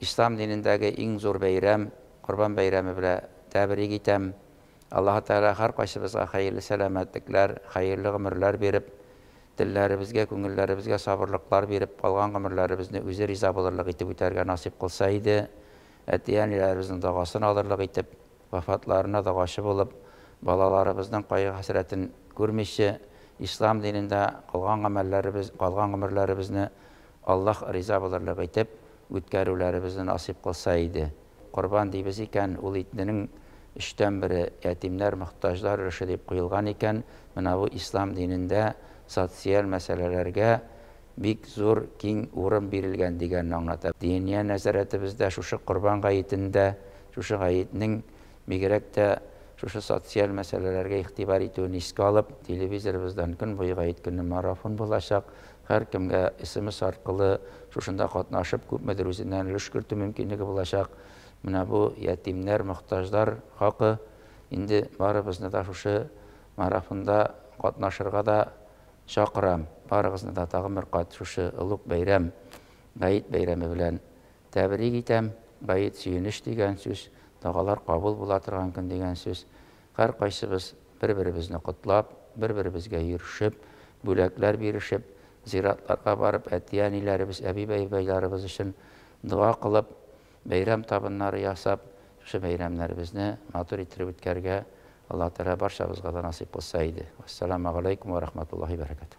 Ислам динендәге иң зур бәйрәм, Корбан бәйрәме белә тәбрик итәм. Аллаһы Тәгалә һәркайсыбызга хәерле сәламәтлекләр, хәерле гомерләр биреп, телләребезгә, күңелләребезгә сабырлыклар биреп, калган гомерләребезне үзе риза булырлык итеп үтәргә насыйп кылса иде, әти-әниләребезнең догасын алырлык итеп, вафатларына догачы булып, балаларыбызның кайгы-хәсрәтен күрмичә, Ислам динендә кылган гамәлләребез, калган гомерләребезне Аллаһ риза булырлык итеп, үткәрүләребезне насыйп кылса иде. Корбан дибез икән, ул итненең өчтән бере, ятимнәр, мохтаҗлар өлеше дип куелган икән, менә бу ислам динендә социаль мәсьәләләргә бик зур, киң урын бирелгән дигәнне аңлата. Диния нәзарәтебездә шушы Корбан гаетендә, шушы гаетнең бигрәк тә шушы социаль мәсьәләләргә игътибар итүен искә алып, телевизорыбыздан көн буе Гаеткөнне марафон булачак, Һәркемгә смс аркылы шушында катнашып, күпмедер үзеннән өлеш кертү мөмкинлеге булачак. Менә бу ятимнәр, мохтаҗлар хакы. Инде барыбызны да шушы марафонда катнашырга да чакырам. Барыгызны да тагын бер кат шушы олуг бәйрәм, Гает бәйрәме белән тәбрик итәм. Гает, сөенеч дигән сүз, догалар кабул була торган көн дигән сүз. Һәркайсыбыз бер-беребезне котлап, бер-беребезгә йөрешеп, бүләкләр бирешеп, зиратларга барып, әти-әниләребез, әби-бәбайларыбыз өчен дога кылып, бәйрәм табыннары ясап, шушы бәйрәмнәребезне матур иттереп үткәрергә Аллаһ Тәгалә барчабызга да насыйп кылса иде. Вәссәламәгаләйкүм вә рахматуллаһи вә бәрәкәтүһ.